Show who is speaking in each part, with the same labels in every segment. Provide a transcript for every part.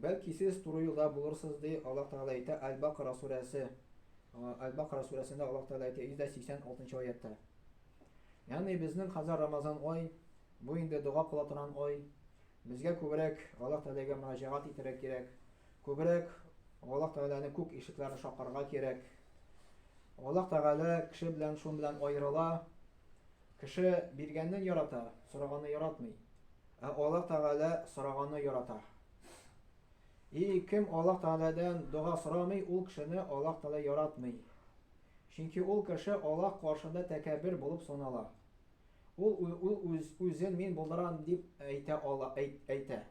Speaker 1: Бәлки сез туры юлда булырсыз, ди Аллаһ Тәгалә әйтә Әл-Бакара сүрәсе, Әл-Бакара сүрәсендә Аллаһ Тәгалә әйтә 186 аятта. Ягъни безнең хәзер Рамазан ай, бу инде дога кыла торган ай. Безгә күбрәк Аллаһ Тәгаләгә мөрәҗәгать итәргә кирәк. Күбрәк Аллаһ Тәгаләне күк ишекләрен шакырга кирәк. Аллаһ Тәгалә кеше белән шун белән аерыла. Кеше биргәнне ярата, сораганны яратмый. Ә Аллаһ Тәгалә сораганны ярата. И кем Аллаһ Тәгаләдән дога сорамый, ул кешене Аллаһ Тәгалә яратмый. Чөнки ул кеше Аллаһ каршында тәкәббер булып санала. Ул ул үз үзен мин булдырам дип әйтә ала, әйтә.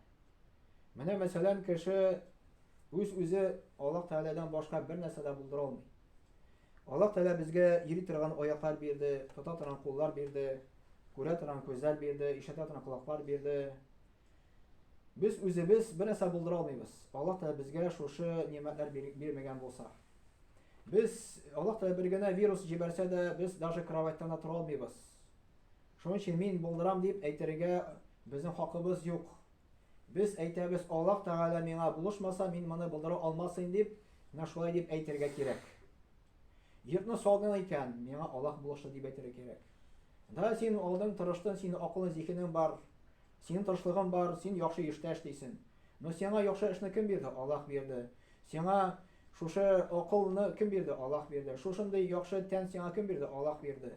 Speaker 1: Менә мәсәлән, кеше үз-үзе Аллаһ Тәгаләдән башка бер нәрсә дә булдыра алмый. Аллаһ Тәгалә безгә йөри торган аяклар бирде, тота торган куллар бирде, күрә торган күзләр бирде, ишетә торган колаклар бирде. Без үзебез бер нәрсә булдыра алмыйбыз. Аллаһ Тәгалә безгә шушы нимәтләр бирмәгән булса. Без Аллаһ Тәгалә бер генә вирус җибәрсә дә, без даже кроватьтан да тора алмыйбыз. Шуның өчен мин булдырам дип әйтергә безнең хакыбыз юк. Без әйтәбез, Аллаһ Тәгалә миңа булышмаса, мин моны булдыра алмасыйм дип, менә шулай дип әйтергә кирәк. Йортны салдың икән, миңа Аллаһ булышы дип әйтергә кирәк. Да син алдың, тырыштың, син акылың, зихенең бар, синең тырышлыгың бар, син яхшы эштә эшлисең. Но сиңа яхшы эшне кем бирде? Аллаһ бирде. Сиңа шушы акылны кем бирде? Аллаһ бирде. Шушындый яхшы тән сиңа кем бирде? Аллаһ бирде.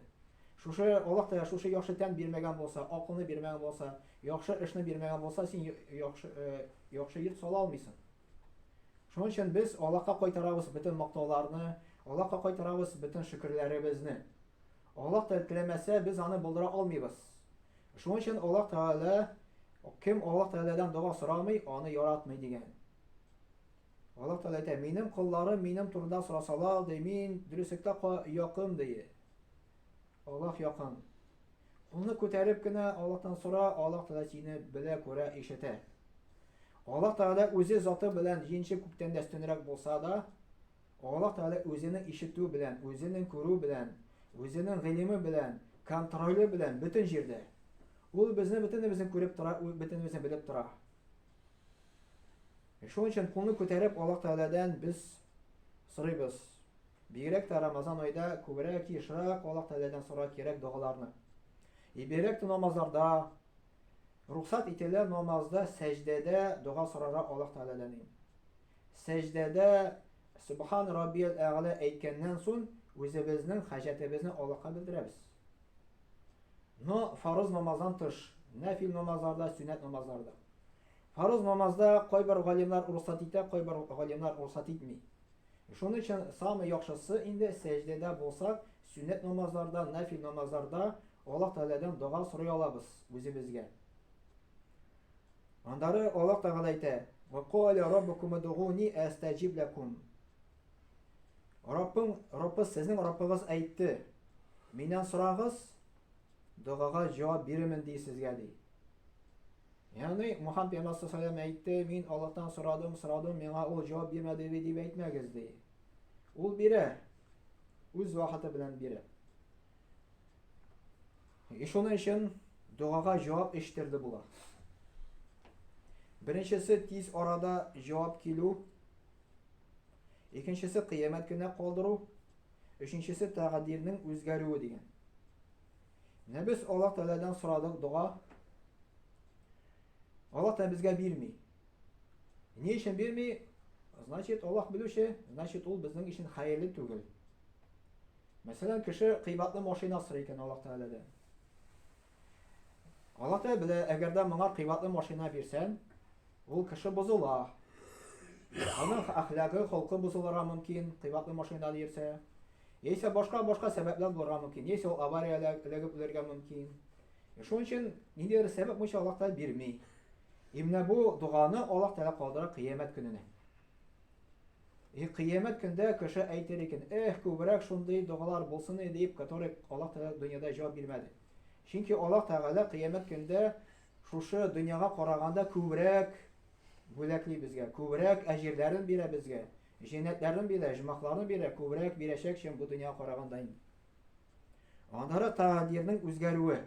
Speaker 1: Шушы Аллаһ та шушы яхшы тән бирмәгән булса, акылны бирмәгән булса, Яхшы эшне бирмәгән булса, син яхшы, яхшы йорт сала алмыйсың. Шуның өчен без Аллаһка кайтарабыз бөтен мактауларны, Аллаһка кайтарабыз бөтен шөкерләребезне. Аллаһ та теләмәсә, без аны булдыра алмыйбыз. Шуның өчен Аллаһ Тәгалә кем Аллаһ Тәгаләдән дога сорамый, аны яратмый дигән. Аллаһ Тәгалә әйтә, минем колларым минем турында сорасалар, ди, мин дөреслектә якын, ди. Аллаһ якын. Кулны күтәреп кенә Аллаһтан сора, Аллаһ Тәгалә сине белә, күрә, ишетә. Аллаһ Тәгалә үзе заты белән җинче күктән дә өстенрәк булса да, Аллаһ Тәгалә үзенең ишетү белән, үзенең күрү белән, үзенең гыйлеме белән, контроле белән бөтен җирдә. Ул безне бөтенебезне күреп тора, бөтенебезне белеп тора. Шуның өчен кулны күтәреп Аллаһ Тәгаләдән без сорыйбыз. Бигрәк тә Рамазан айда күбрәк ешрак Аллаһ Тәгаләдән сора кирәк догаларны. И бигрәк тә намазларда рухсат ителә намазда сәҗдәдә дога сорарга Аллаһ Тәгаләдән. Сәҗдәдә Субхан Раббияль Әгъла әйткәннән соң үзебезнең хаҗәтебезне Аллаһка белдерәбез. Но фарыз намаздан тыш, нәфил намазлар да, сөннәт намазлар да. Фарыз намазда кайбер галимнар рөхсәт итә, кайбер галимнар рөхсәт итми. Шуның өчен самый яхшысы инде сәҗдәдә булсак, сөннәт намазларда, нәфил намазларда Аллаһ Тәгаләдән дога сорый алабыз үзебезгә. Аннары Аллаһ Тәгалә әйтә: "Ва каля раббукум удгуни астаҗиб лакум". Раббың, Раббыз, сезнең Раббыгыз әйтте, Миннән сорагыз, догага җавап бирермен ди сезгә, ди. Ягъни Мухаммад пәйгамбәр саллаллаху әйтте, мин Аллаһтан сорадым, сорадым, миңа ул җавап бирмәде бит дип әйтмәгез, ди. Ул бирә. Үз вакыты белән бирә. И шуның өчен догага җавап эчтерде була. Беренчесе тиз арада җавап килү, Икенчесе кыямәт көнә калдыру, өченчесе тәкъдирнең үзгәрүе дигән. Менә без Аллаһ Тәгаләдән сорадык дога. Аллаһ та безгә бирми. Ни өчен бирми? Значит, Аллаһ белүче, значит, ул безнең өчен хәерле түгел. Мәсәлән, кеше кыйбатлы машина сорый икән Аллаһ Тәгаләдән. Аллаһ белә, әгәр дә моңа кыйбатлы машина бирсәң, ул кеше бозыла. Аның әхлагы, холкы бозылырга мөмкин, кыйбатлы машина йөрсә. Яисә башка-башка сәбәпләр булырга мөмкин. Яисә ул авариягә эләгеп үләргә мөмкин. Э, шуның өчен ниндидер сәбәп буенча Аллаһ Тәгалә бирми. Именно бу доганы Аллаһ Тәгалә калдыра кыямәт көненә. И кыямәт көндә кеше әйтер икән, эх, күбрәк шундый догалар булсын иде дип, который Аллаһ Тәгалә дөньяда җавап бирмәде. Чөнки Аллаһ Тәгалә кыямәт көндә шушы дөньяга караганда күбрәк бүләкли безгә, күбрәк әҗирләрен бирә безгә, җәннәтләрен бирә, җмахларын бирә, күбрәк бирәчәк, чем бу дөньяга караганда инде. Аннары тәкъдирнең үзгәрүе.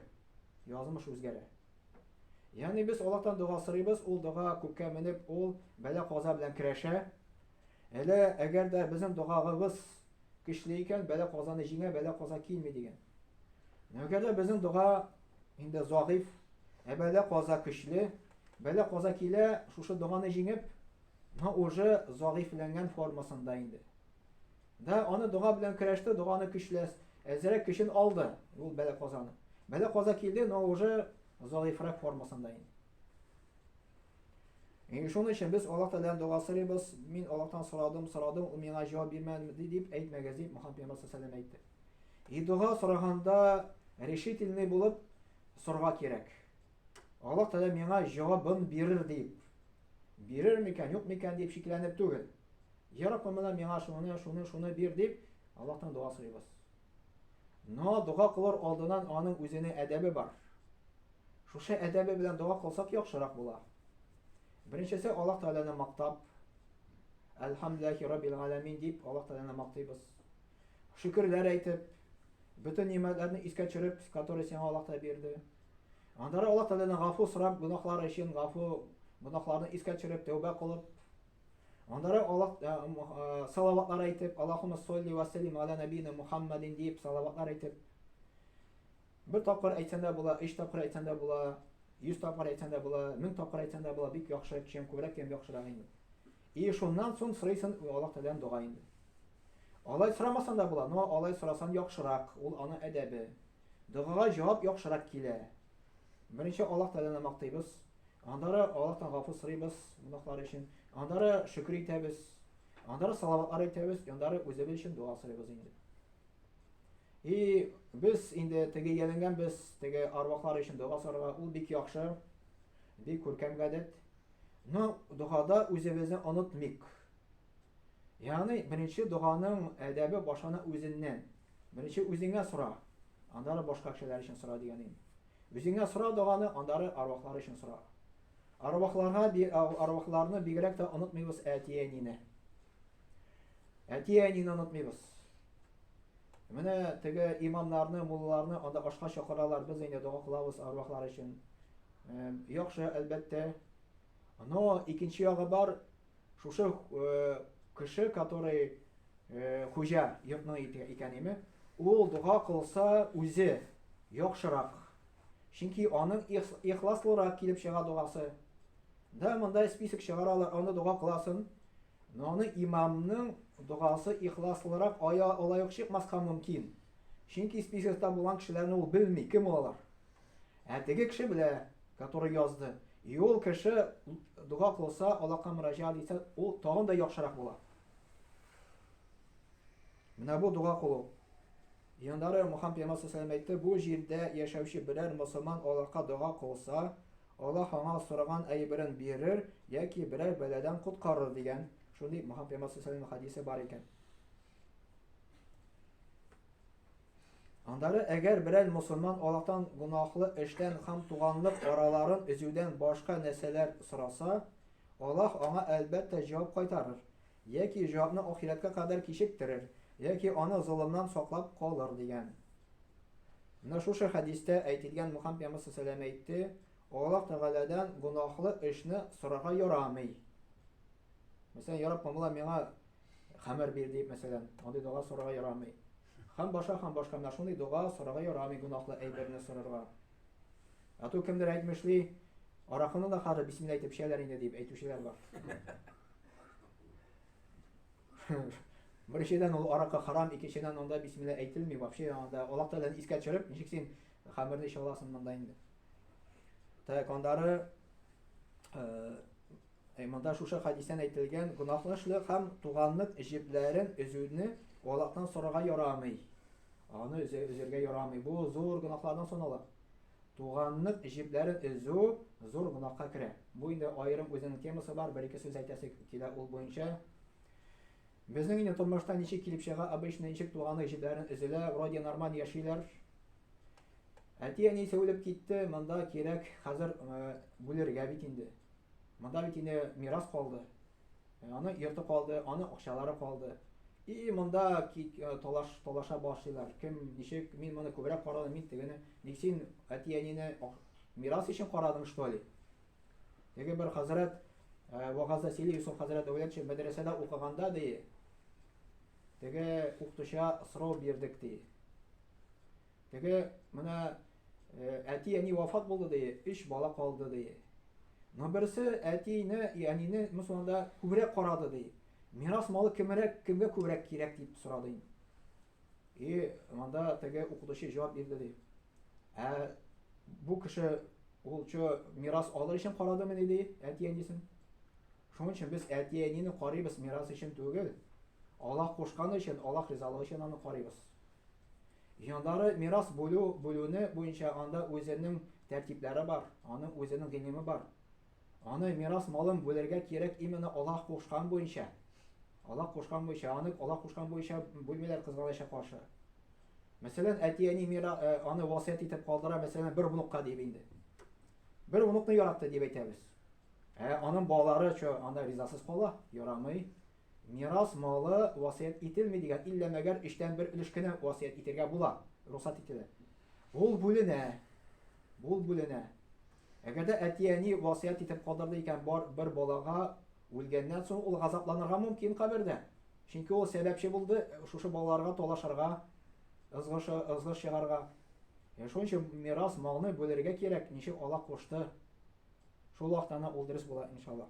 Speaker 1: Язмыш үзгәрә. Ягъни без Аллаһтан дога сорыйбыз, ул дога күккә менеп, ул бәла-каза белән көрәшә. Әле әгәр дә безнең догагыбыз көчле икән, бәла-казаны җиңә, бәла-каза килми дигән. Әгәр дә безнең дога инде загыйф, ә бәла-каза көчле, бәла-каза килә, шушы доганы җиңеп, но уже загыйфләнгән формасында инде. Да, аны дога белән көрәште, доганы көчләс, әзерәк көчен алды ул бәлә казаны. Бәлә каза килде, но уже заифрак формасында инде. И шуның өчен без Аллаһ Тәгаләдән дога сорыйбыз. Мин Аллаһтан сорадым, сорадым, ул миңа җавап бирмәде дип әйтмәгез дип Мөхәммәд пәйгамбәр саллаллаху алейһи әйтте. И дога сораганда решительный булып сорга кирәк. Аллаһ Тәгалә миңа җавабын бирер дип, бирер микән, юк микән дип шикләнеп түгел. Я Раббым, менә миңа шуны, шуны, шуны бир дип, Аллаһтан дога сорыйбыз. Но дога кылыр алдыннан аның үзенә әдәбе бар. Шушы әдәбе белән дога кылсак яхшырак була. Беренчесе Аллаһ Тәгаләне мактап, Әлхәмдулиллахи Раббил Галәмин дип Аллаһ Тәгаләне мактыйбыз. Шөкерләр әйтеп, бөтен нимәтләрне искә төшереп, которые сиңа Аллаһ Тәгалә бирде. Аннары Аллаһ Тәгаләдән гафу сорап, гөнаһлары өчен гафу, гөнаһларны искә төшереп, тәүбә кылып, аннары Аллаһ э, э, салаватлар әйтеп, Аллаһумма солли ва саллим аля набина Мухаммадин дип салаватлар әйтеп, бер тапкыр әйтсәң дә була, өч тапкыр әйтсәң дә була, йөз тапкыр әйтсәң дә була, мең тапкыр әйтсәң дә була, бик яхшы, чем күбрәк, тем яхшырак инде. И шуннан соң сорыйсың Аллаһ Тәгаләдән дога инде. Алай сорамасаң да була, но алай сорасаң яхшырак, ул аны әдәбе. Догага җавап яхшырак килә. Беренче Аллаһ Тәгаләне мактыйбыз, аннары Аллаһтан гафу сорыйбыз гөнаһлар өчен, аннары шөкер итәбез, аннары салаватлар әйтәбез, аннары үзебез өчен дога сорыйбыз инде. И без инде теге яләнгән без теге арвахлар өчен дога сорарга, ул бик яхшы, бик күркәм гадәт. Но догада үзебезне онытмыйк. Ягъни беренче доганың әдәбе башлана үзеннән. Беренче үзеңә сора, аннары башка кешеләр өчен сора дигәнем. Үзеңә сора доганы, аннары арвахлар өчен сора. Арвахларга арвахларны бигрәк тә онытмыйбыз әти-әнине. Әти-әнине онытмыйбыз. Менә теге имамнарны, мулларны анда ашка чакыралар, без инде дога кылабыз арвахлар өчен. Яхшы, әлбәттә. Но икенче ягы бар, Шушы кеше, который хуҗа йортның икәнеме, ул дога кылса үзе яхшырак. Чөнки аның ихласлырак килеп чыга догасы. Да монда список чыгаралар, аны дога кыласын. Но аны имамның догасы ихласлырак ая алайык чыкмаска мөмкин. Чөнки списокта булган кешеләрне ул белми, кем алар. Ә теге кеше белә, который язды. И ул кеше дога кылса, Аллаһка мөрәҗәгать итсә, ул тагын да яхшырак була. Менә бу дога кылу. Яндары Мухаммад пәйгамбәр саллаллаху әйтте, бу җирдә яшәүче берәр мусулман Аллаһка дога кылса, Аллаһ аңа сораган әйберен бирер яки берәр бәладән коткарыр дигән. Шундый Мухаммад пәйгамбәр саллаллаху хадисе бар икән. Аннары, әгәр берәр мосылман Аллаһтан гөнаһлы эштән һәм туганлык араларын өзүдән башка нәрсәләр сораса, Аллаһ аңа, әлбәттә, җавап кайтарыр, яки җавапны ахирәткә кадәр кичектерер, яки аны золымнан саклап калыр, дигән. Менә шушы хәдистә әйтелгән Мөхәммәд пәйгамбәр саллаллаһу әйтте, Аллаһ Тәгаләдән гөнаһлы эшне сорарга ярамый. Мәсәлән, ярап, мамла миңа Хамер бир дип, мәсәлән, андый дога сорарга ярамый. Хам баша, хам башка менә шундый дога сорарга ярамый гунахлы әйберне сорарга. Ату кемдер әйтмешли, аракыны да хәзер бисмилла әйтеп эчәләр инде дип әйтүчеләр бар. Беренчедән ул аракы харам, икенчедән анда бисмилла әйтелми, вообще анда Аллаһ Тәгаләне искә төшереп, ничек син хамерне эчә аласың монда инде. Тәкандары э, Ә монда шушы хәдистән әйтелгән гөнаһлышлык һәм туганлык җепләрен өзүне Аллаһтан сорарга ярамый. Аны өзергә ярамый. Бу зур гөнаһлардан санала. Туганлык җепләрен өзү зур гөнаһка керә. Бу инде аерым үзенең темасы бар, бер-ике сүз әйтәсе килә ул буенча. Безнең инде тормышта ничек килеп чыга, обычно ничек туганлык җепләрен өзелә, вроде нормаль яшиләр. Әти-әнисе үлеп китте, монда кирәк хәзер э, бүлергә бит инде. Монда бит инде мирас калды. Э, аны йорты калды, аны акчалары калды. И монда э, талаш талаша башлыйлар. Кем ничек мин моны күбрәк карадым, мин тегене. Ник син әти-әнине мирас өчен карадың, что ли? Теге бер хәзрәт э, вагазда сөйли, Юсуф хәзрәт Дәүләтшин мәдрәсәдә укыганда ди, теге укытучыга сорау бирдек ди. Теге менә әти-әни вафат булды ди, өч бала калды ди. Но берсе әтине, әнине мусулманда күбрәк карады ди. Мирас малы кемрәк, кемгә күбрәк кирәк дип сорады инде. И монда теге укытучы җавап бирде ди. Ә бу кеше ул чо мирас алыр өчен карадымы ни ди, әти-әнисен. Шуның өчен без әти-әнине карыйбыз мирас өчен түгел. Аллаһ кушканы өчен, Аллаһ ризалыгы өчен аны карыйбыз. Җандары мирас бүлү бүлүне буенча анда үзенең тәртипләре бар, аның үзенең гыйлеме бар. Аны мирас малын бүлергә кирәк именно Аллаһ кушкан буенча. Аллаһ кушкан буенча, аны Аллаһ кушкан буенча бүлмиләр кызганыча каршы. Мәсәлән, әти-әни мира э, аны васыять итеп калдыра, мәсәлән, бер внукка дип инде. Бер внукны яратты дип әйтәбез. Ә аның балалары чо анда ризасыз кала, ярамый. Мирас малы васыять ителми дигән, иллә мәгәр өчтән бер өлеш кенә васыять итергә була, рөхсәт ителә. Ул бүленә, ул бүленә. Әгәр дә әти-әни васыять итеп калдырды икән бар бер балага, үлгәннән соң ул газапланырга мөмкин кабердә. Чөнки ул сәбәпче булды шушы балаларга талашырга, ызгыш, ызгыш чыгарга. Е, шуның өчен мирас малны бүлергә кирәк, ничек Аллаһ кушты. Шул вакытта гына ул дөрес була, иншаллаһ.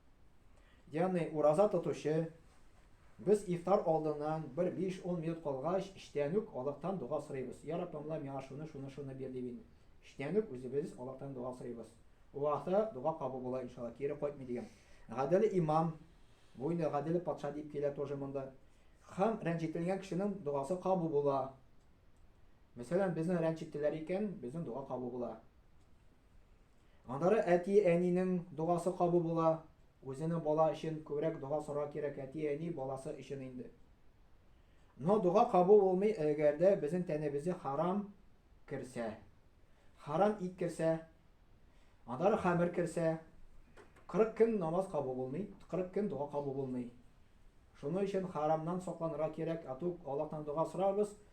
Speaker 1: Ягъни ураза тотучы, без ифтар алдыннан бер 5-10 минут калгач, эчтән үк Аллаһтан дога сорыйбыз. Я Раббым, Аллаһ, миңа шуны, шуны, шуны бир дип инде. Эчтән үк үзебез Аллаһтан дога сорыйбыз. Бу вакытта дога кабул була, иншалла, кире кайтмый дигән. Гадел имам, бу инде гадел патша дип килә тоже монда. Хам рәнҗетелгән кешенең догасы кабул була. Мәсәлән, безне рәнҗеттеләр икән, безнең дога кабул була. Аннары әти-әнинең догасы кабу була. Үзене бала өчен күбрәк дога сорар кирәк әти-әни баласы өчен инде. Но дога кабу булмый эгәрдә безнең тәнебезе харам керсә. Харам ит керсә. Аннары хамер керсә. 40 көн намаз кабу булмый, 40 көн дога кабу булмый. Шуны өчен харамнан сокланырга кирәк, ату Аллаһтан дога сорарбыз,